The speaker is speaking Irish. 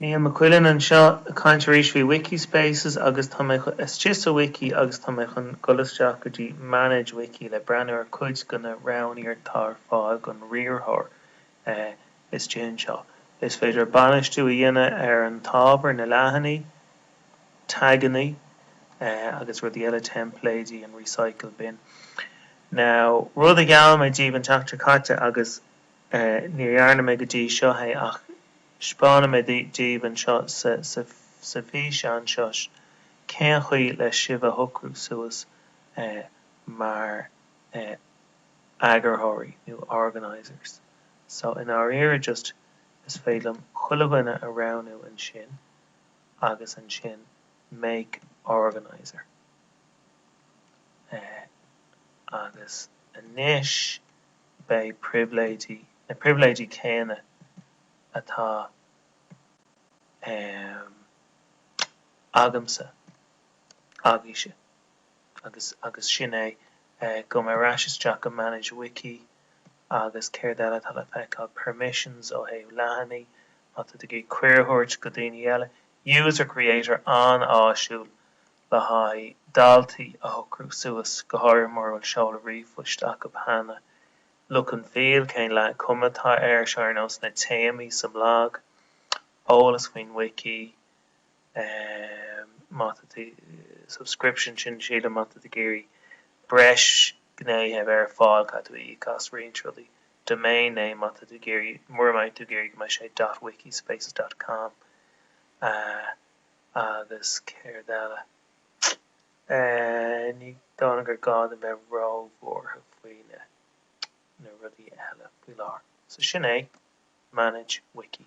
Niall Mac Uidhilin anseo ag caint arís faoi Wikispaces agus tá mé chun, istigh sa Wiki agus tá mé chun dul isteach go dtí Manage Wiki le breathnú ar cuid de na roghanna atá ar fáil don riarthóir istigh anseo. Is féidir bainistiú a dhéanamh ar an t-ábhar, na leathanaigh, tagannaí agus rudaí eile, teimpléidí, an Recycle Bin. Now, rud a gheall mé daoibh an tseachtain seo caite agus. Níor dhearna mé go dtí seo é, ach 'speánfaidh mé daoibh anseo sa bhfíseán seo cén chaoi le sibh a shocrú suas mar eagarthóirí nó organisers. So, i ndáiríre just is féidir liom chuile bhall a roghnú ansin agus ansin make organiser. Agus anois. beidh pribhléidí, na pribhléidí céanna atá agamsa, agaibhse, agus, agus sin é, gabh muid ar ais isteach go manage wiki agus céard eile atá le feiceáil, permissions ó thaobh leathanaigh, má tá tú ag iarraidh cuireadh a thabhairt go daoine eile, user creator an-áisiúil le haghaidh daltaí a shocrú suas, go háirithe mura bhfuil seoladh ríomhphoist acu cheana. Look and Feel, Cén cuma atá air seo ar nós na téamaí sa mblag? Eolas faoin wiki, má tá tú subscription sin, sílim, má tá tú ag iarraidh breis gnéithe a bheith ar fáil, caithfidh tú íoc as roinnt rudaí. Domain name, má tá tú ag iarraidh, mura mbeadh tú ag iarraidh go mbeidh sé dot wiki spaces dot com, agus céard eile. Ní dóigh liom gur gá dom bheith ró-bhuartha faoi na rudaí eile faoi láthair. So sin é, manage wiki.